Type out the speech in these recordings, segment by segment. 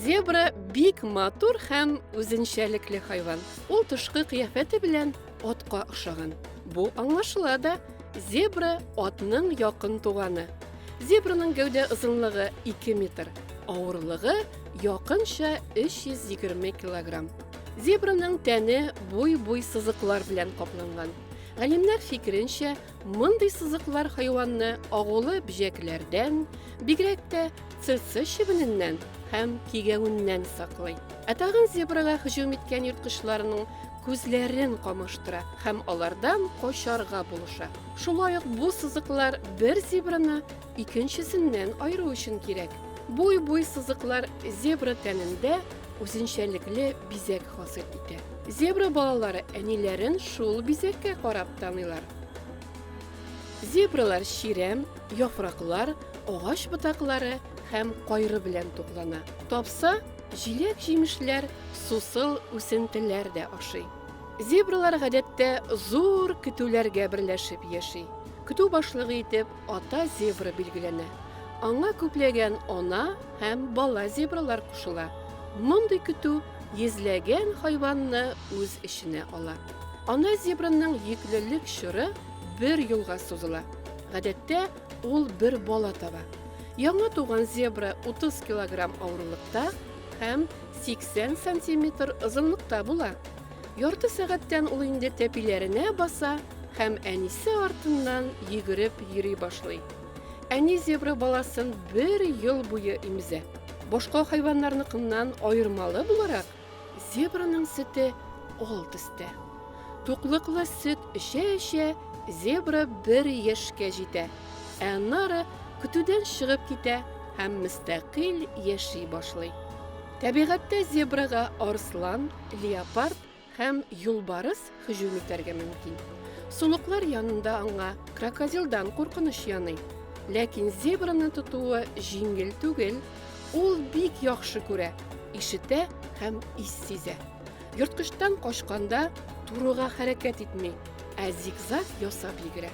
Зебра бик матур һәм үзенчәлекле хайван. Ул тышкы кыяфәте белән атка охшаган. Бу аңлашыла да, зебра атның якын туганы. Зебраның гәүдә озынлыгы 2 метр, авырлыгы якынча 320 килограмм. Зебраның тәне буй-буй сызыклар белән капланган. Галимнәр фикеренчә, мондый сызыклар хайванны агулы бөҗәкләрдән, бигрәк тә цеце чебененнән һәм кигәвеннән саклый. Ә тагын зебрага һөҗүм иткән ерткычларның күзләрен камаштыра һәм алардан качарга булыша. Шулай ук бу сызыклар бер зебраны икенчесеннән аеру өчен кирәк. Буй-буй сызыклар зебра тәнендә үзенчәлекле бизәк хасил итә. Зебра балалары әниләрен шул бизәккә карап таныйлар. Зебралар чирәм, яфраклар, агач ботаклары һәм кайры белән туклана. Тапса, җиләк-җимешләр, сусыл үсентеләр дә ашый. Зебралар гадәттә зур көтүләргә берләшеп яши. Көтү башлыгы итеп ата зебра билгеләнә. Аңа күпләгән ана һәм бала зебралар кушыла. Мондый көтү йөзләгән хайванны үз эченә ала. Ана зебраның йөклелек чоры бер елга сузыла. Гадәттә, ул бер бала таба. Яңа туган зебра 30 килограмм авырлыкта һәм 80 сантиметр озынлыкта була. Ярты сәгатьтән ул инде тәпиләренә баса һәм әнисе артыннан йөгереп йөри башлый. Әни зебра баласын бер ел буе имзә. Башка хайваннарныкыннан аермалы буларак, зебраның сөте ал төстә. Туклыклы сөт эчә-эчә, зебра бер яшькә җитә, ә аннары көтүдән чыгып китә һәм мөстәкыйль яши башлый. Табигатьтә зебрага арслан, леопард һәм юлбарыс һөҗүм итәргә мөмкин. Сулыклар янында аңа крокодилдан куркыныч яный. Ләкин зебраны тотуы җиңел түгел, ул бик яхшы күрә, ишетә һәм ис сизә. Ерткычтан качканда турыга хәрәкәт итми, ә зигзаг ясап йөгерә.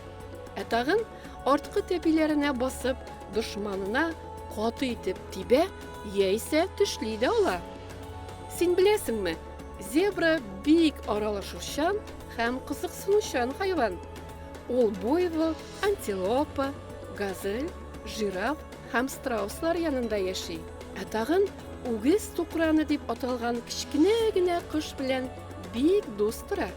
Ә тагын арткы тәпиләренә басып, дошманына каты итеп тибә яисә төшли дә ала. Син беләсеңме, зебра бик аралашучан һәм кызыксынучан хайван. Ул буйвол, антилопа, газель, жираф һәм страуслар янында яши. Ә тагын Үгез тукраны дип аталган кечкенә генә кош белән бик дус тора.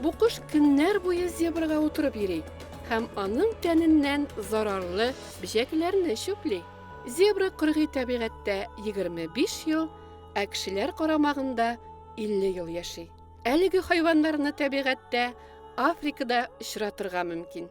Бу кош көннәр буе зебрага утырып йөри һәм аның тәненнән зарарлы бөҗәкләрне чүпли. Зебра кыргый табигатьтә 25 ел, ә кешеләр карамагында 50 ел яши. Әлеге хайваннарны табигатьтә Африкада очратырга мөмкин.